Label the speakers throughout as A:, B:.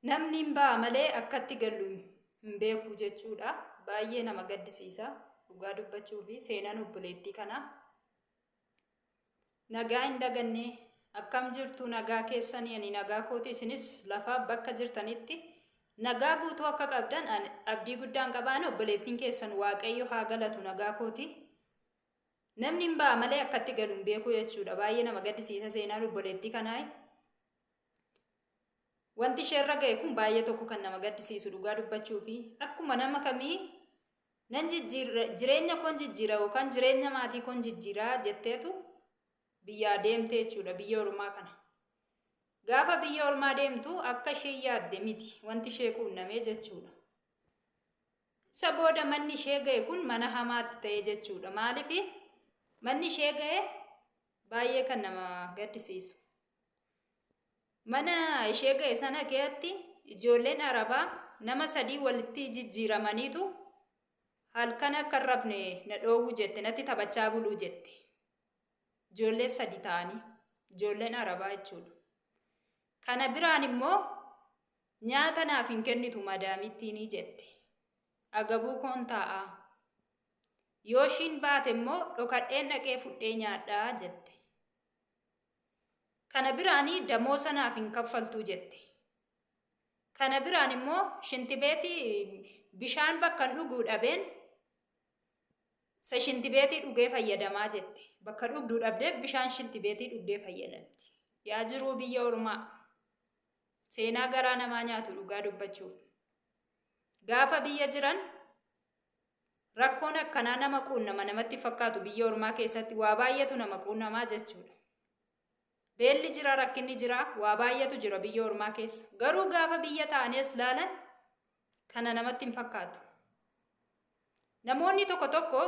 A: namni hin ba'a malee akkatti gallu hin beeku jechuudha baay'ee nama gaddisiisa dhugaa dubbachuu fi seenaan obboleettii kana nagaa hin daganne akkam jirtu nagaa keessanii ani nagaa kooti isinis lafaa bakka jirtanitti nagaa guutuu akka qabdan abdii guddaan qabaan obboleettiin keessan waaqayyo haa galatu nagaa kooti Namni hin ba'a malee akka itti galu hin beeku jechuudha. Baay'ee nama gaddisiisa seenaan obboleettii kanaa. Wanti isheerra ga'e kun baay'ee tokko kan nama gaddisiisu dhugaa dubbachuu fi akkuma nama kamii nan jijjiirra jireenya koon jijjiira yookaan jireenya maatii koon jijjiiraa jetteetu biyyaa deemte jechuudha biyya ormaa kana. Gaafa biyya ormaa deemtu akka ishee yaadde miti wanti ishee quunnamee jechuudha. Isa booda manni ishee ga'e kun mana hamaatti ta'e jechuudha. Maaliif manni ishee ga'e baay'ee kan nama gaddisiisu. Mana ishee ga'e sana keessatti ijoolleen Arabaa nama sadii walitti jijjiiramaniitu halkan akka hin rafne na dhoowwu jette natti taphachaa buluu jette. Ijoollee sadi ta'anii ijoolleen Arabaa jechuudha. Kana biraan immoo Nyaata naaf hin kennitu madaamittiini jette. Agabuu koon taa'a. Yoo ishiin baate immoo dhokadheen dhaqee fudhee nyaadha jette. Kana biraani damoosa naaf hin kaffaltuu jette. Kana biraan immoo shintibeetii bishaan bakkan dhuguu dhabeen sa shintibeetii dhugee fayyadamaa jette. Bakka dhugduu dhabdee bishaan shintibeetii dhugdee fayyadamti. Yaa jiruu biyya ormaa. Seenaa garaa namaa nyaatu dhugaa dubbachuuf. Gaafa biyya jiran rakkoon akkanaa nama quunnama namatti fakkaatu biyya ormaa keessatti waa baay'eetu nama quunnamaa jechuudha. Beelli jira rakkinni jira waa baay'eetu jira biyya ormaa keessa. Garuu gaafa biyya ta'anees laalan kana namatti hin fakkaatu. Namoonni tokko tokko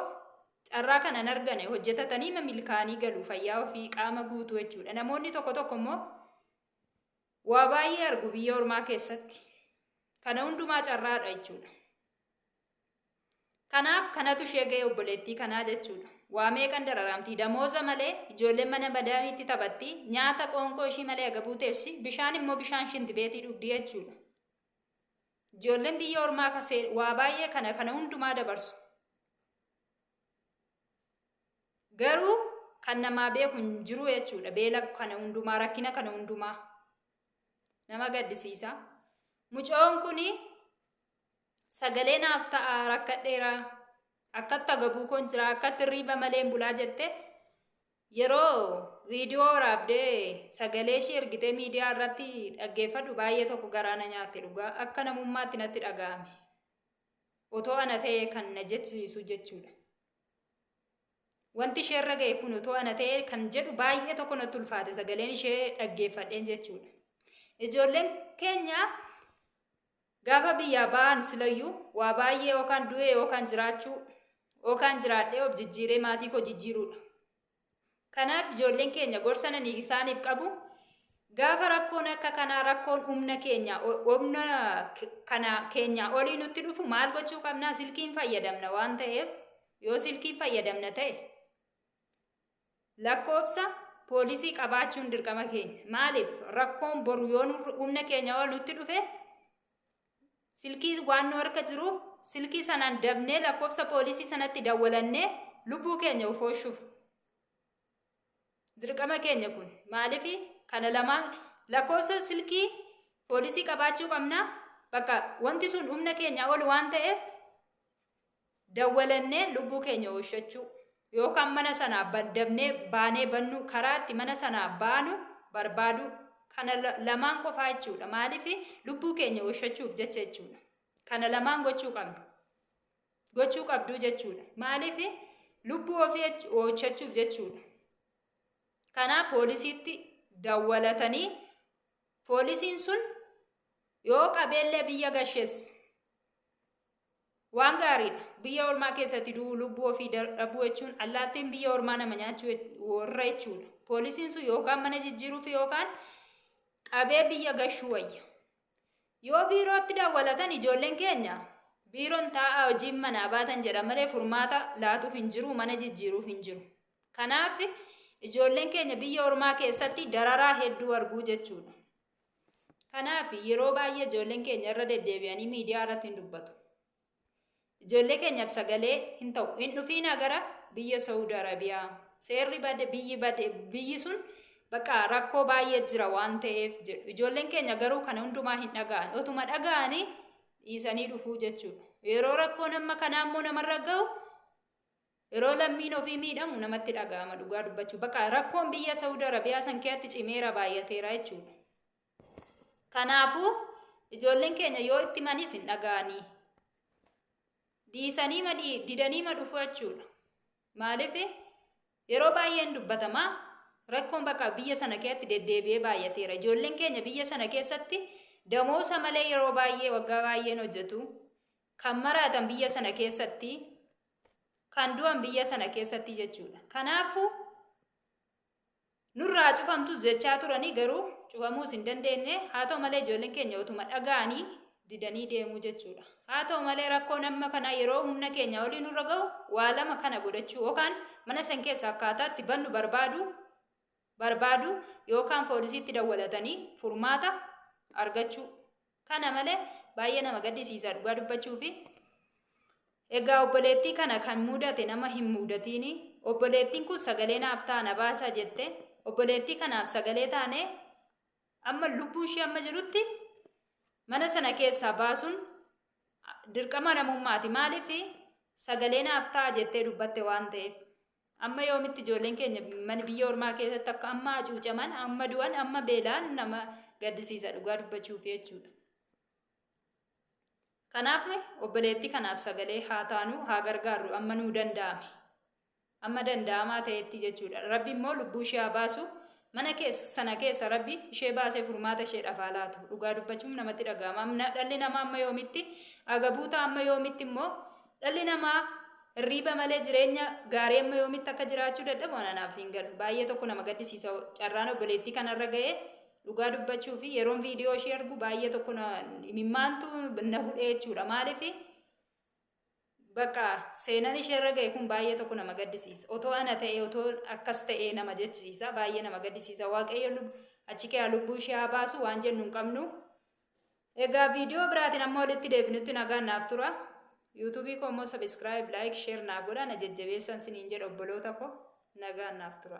A: carraa kana hin argane hojjetatanii milkaa'anii galu fayyaa ofii qaama guutuu jechuudha. Namoonni tokko tokko immoo waa baay'ee argu biyya ormaa keessatti kana hundumaa carraadha jechuudha kanaaf kanatu ishee ga'e obboleettii kanaa jechuudha waa meeqan dararaamti damooza malee ijoolleen mana madaamiitti taphatti nyaata qoonqoo ishii malee agabuu teessi bishaan immoo bishaan shinti beetii dhugdi jechuudha ijoolleen biyya ormaa kasee waa baay'ee kana kana hundumaa dabarsu Garuu kan namaa beeku hin jiru jechuudha. Beela kana hundumaa, rakkina kana hundumaa. Nama gaddisiisa. Mucoon kun sagalee naaf ta'a rakkadheera. Akkatti agabuu koon jira, akkatti hirriiba malee hin bulaa jette. Yeroo viidiyoo waraabdee sagalee ishee ergitee miidiyaa irratti dhaggeeffadhu baay'ee tokko garaa na nyaatte dhugaa akka namummaatti natti dhaga'ame. otoo ana ta'ee kan na jechisiisu jechuudha. Wanti isheerra ga'e kun otoo ana ta'ee kan jedhu baay'ee tokko natti ulfaate sagaleen ishee dhaggeeffadheen jechuudha. Ijoolleen keenya gaafa biyyaa ba'an silayyuu waa baay'ee yookaan du'ee yookaan jiraachuu yookaan jiraadhee of jijjiiree maatii koo jijjiiruudha. Kanaaf ijoolleen keenya gorsa nani isaaniif qabu gaafa rakkoon akka kanaa rakkoon humna keenya humna kana keenya olii nutti dhufu maal gochuu qabnaa silkiin fayyadamna waan ta'eef yoo silkiin fayyadamna ta'e lakkoofsa poolisii qabaachuun dirqama keenya maaliif rakkoon boru yoo humna keenya ol nutti dhufe Silkii waan nu harka jiruuf silkii sanaan dabnee lakkoofsa poolisii sanatti dawwalannee lubbuu keenya of oolchuuf. Dirqama keenya kun maaliif kana lamaan lakkoofsa silkii poolisii qabaachuu qabna bakka wanti sun humna keenya ol waan ta'eef Dawwalannee lubbuu keenya ooshachuu yookaan mana sanaa dabnee baanee bannuu karaa itti mana sanaa baanu barbaaduu kana lamaan qofaa jechuudha. Maaliif lubbuu keenya ooshachuuf jecha jechuudha. Kana lamaan gochuu qabna. Gochuu qabduu jechuudha. Maaliif lubbuu ofii ooshachuuf jechuudha. Kanaaf poolisiitti dawwalatanii poolisiin sun yoo qabeellee biyya gashes Waan gaariidha. Biyya ormaa keessatti du'uu, lubbuu ofii da- dhabuu jechuun allaattiin biyya ormaa nama nyaachuu jech- warra jechuudha. Poolisiin sun yookaan mana jijjiiruuf yookaan qabee biyya gashuu wayya. Yoo biirootti dawwalatan ijoolleen keenya biiroon taa'aa hojiin manaa baatan jedha malee furmaata laatuuf hin jiru, mana jijjiiruuf hin jiru. Kanaaf ijoolleen keenya biyya ormaa keessatti dararaa hedduu arguu jechuudha. Kanaaf yeroo baay'ee ijoolleen keenya irra deddeebi'anii miidiyaa irratti hin dubbatu. Ijoollee keenyaaf sagalee hin ta'u. Hin dhufiinaa gara biyya Saawud Arabiyaa. Seerri bade biyyi bade biyyi sun bakka rakkoo baay'ee jira waan ta'eef jedhu. Ijoolleen keenya garuu kana hundumaa hin dhaga'an. Otuma dhaga'anii dhiisanii dhufuu jechuudha. Yeroo rakkoon amma kanaa immoo namarra ga'u Yeroo lammiin ofii miidhamu namatti dhaga'ama dhugaa dubbachuu bakka rakkoon biyya Saudi Arabiyaa san keessatti cimeera baay'ateera jechuudha. Kanaafuu ijoolleen keenya yoo itti manis hin dhaga'anii dhiisanii ma dhii- didanii ma dhufu jechuudha. Maaliif yeroo baay'ee hin dubbatama rakkoon bakka biyya sana keessatti deddeebi'ee baay'ateera. Ijoolleen keenya biyya sana keessatti damoosa malee yeroo baay'ee waggaa baay'een hojjetu. Kan maraatan biyya sana keessatti kan du'an biyya sana keessatti jechuudha. Kanaafuu nurraa cufamtus jechaa turanii garuu cufamuus hin dandeenye haa ta'u malee ijoolleen keenya utuma dhaga'anii didanii deemuu jechuudha. Haa ta'u malee rakkoon amma kana yeroo humna keenya olii nurra ga'u waa lama kana godhachuu yookaan mana san keessa akkaataatti bannu barbaadu barbaadu yookaan poolisiitti dawwalatanii furmaata argachuu kana malee baay'ee nama gaddisiisa dhugaa dubbachuu fi egaa obboleettii kana kan mudate nama hin mudatiini obboleettiin kun sagalee naaf ta'a na baasaa jette obboleettii kanaaf sagalee taanee amma lubbuu ishee amma jirutti mana sana keessaa baasuun dirqama namummaati maaliif sagalee naaf ta'a jettee dubbatte waan ta'eef Amma yoomitti ijoolleen keenya mana biyya ormaa keessatti akka amma hacuucaman, amma du'an, amma beelaan nama gaddisiisa dhugaa dubbachuuf jechuudha. Kanaaf obboleettii kanaaf sagalee haa taanu, haa gargaarru amma nuu danda'ame. Amma danda'amaa ta'etti jechuudha. Rabbi immoo lubbuu ishee haa baasu, Mana kees sana keessa Rabbi ishee baasee furmaata isheedhaaf haa laatu. Dhugaa dubbachuum namatti dhaga'ama. Amna dhalli namaa amma yoomitti agabuuta amma yoomitti immoo dhalli namaa hirriiba malee jireenya gaarii amma yoomitti akka jiraachuu dadhabu ana naaf hin galu. Baay'ee tokko nama gaddisiisa carraan obboleettii kanarra ga'ee dhugaa dubbachuu fi yeroon viidiyoo ishee argu baay'ee tokko na imimmaantu na hudhee jechuudha. Maaliif Baqa seenan ishee irra ga'e kun baay'ee tokko nama gaddisiisa. Otoo ana ta'ee otoo akkas ta'ee nama jechisiisa baay'ee nama gaddisiisa waaqayyo achi kee lubbuu ishee haa baasu waan jennu hin qabnu. Egaa viidiyoo biraatiin amma walitti deebinutti nagaan naaf tura. Yuutuubii koo immoo sabiskiraayib, laayik, sheer naa godha na jajjabeessan siniin jedha obboloota koo nagaan naaf tura.